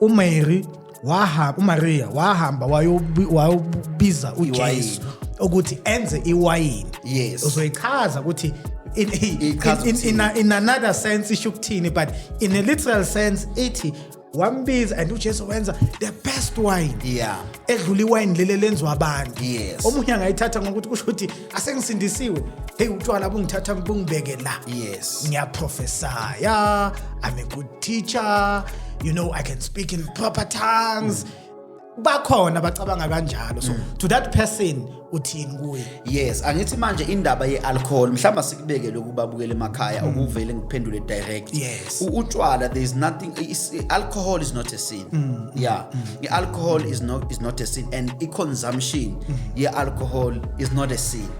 uMary wahamba uMaria wahamba wayobiza uJesu ukuthi enze iwayini yes uzoyichaza ukuthi in, in, in, in, in another sense isho ukuthini but in a literal sense ithi wambiza and uJesu wenza the best wine yeah edlula iwine lele lenziwa abantu yes omunye angayithatha ngokuthi kusho ukuthi asengisindisiwe hey utshwala bungithatha bungibeke la yes ngiyaprofesaya i'm a good teacher you know i can speak in proper tongues mm. bakhona bacabanga kanjalo so mm. to that person uthini kuye yes angithi manje indaba yealcohol mhlawumbe sikubeke lokhu babukele emakhaya mm. ukuvele ngiphendule direct yes utshwala there is nothing is, alcohol is not a sin mm. mm yeah mm. ialcohol is not is not a sin and i consumption mm. yealcohol is not a sin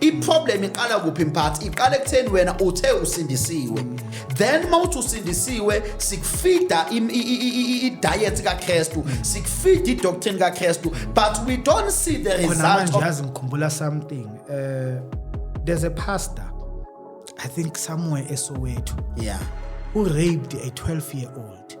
iproblem iqala kuphi mphathi iqala ekutheni wena uthe usindisiwe then mawuthi usindisiwe sikufida i-diet kakrestu sikufida idoctrine kakrestu but we don't see the result yazi ngikhumbula something uh, there's a pastor i think somewhere esowethu yeah who raped a 12 year old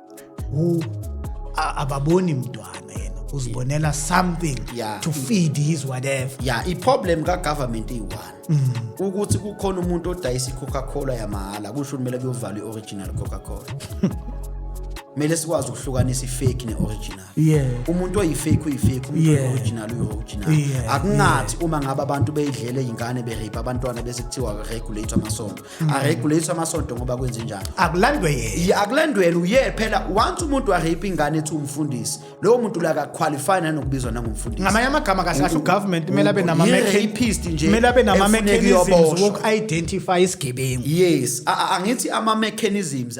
ababoni mntwana yena uzibonela something yeah. to feed his whatever yeah iproblem kagovernment iyi-one mm. ukuthi kukhona umuntu odayisa i-coca cola yamahhala kusho kumele kuyovala i-original coca cola kumele sikwazi ukuhlukanisa ifake ne-original yeah. umuntu oyifake uyifake umuntu yeah. original uyi-original yeah. akungathi yeah. uma ngabe abantu beyidlele iy'ngane berape abantwana bese kuthiwa regulate amasonto mm. aregulate amasonto ngoba kwenze njalo akulandwe yena akulandwele uye phela once umuntu arape ingane ethi umfundisi lowo muntu la akaqualify nanokubizwa nangumfundisi ngamanye amagama kahle kahle ugovernment kumele abe nama rapist nje kumele abe nama mechanisms woku identify isigebengu yes angithi ama mechanisms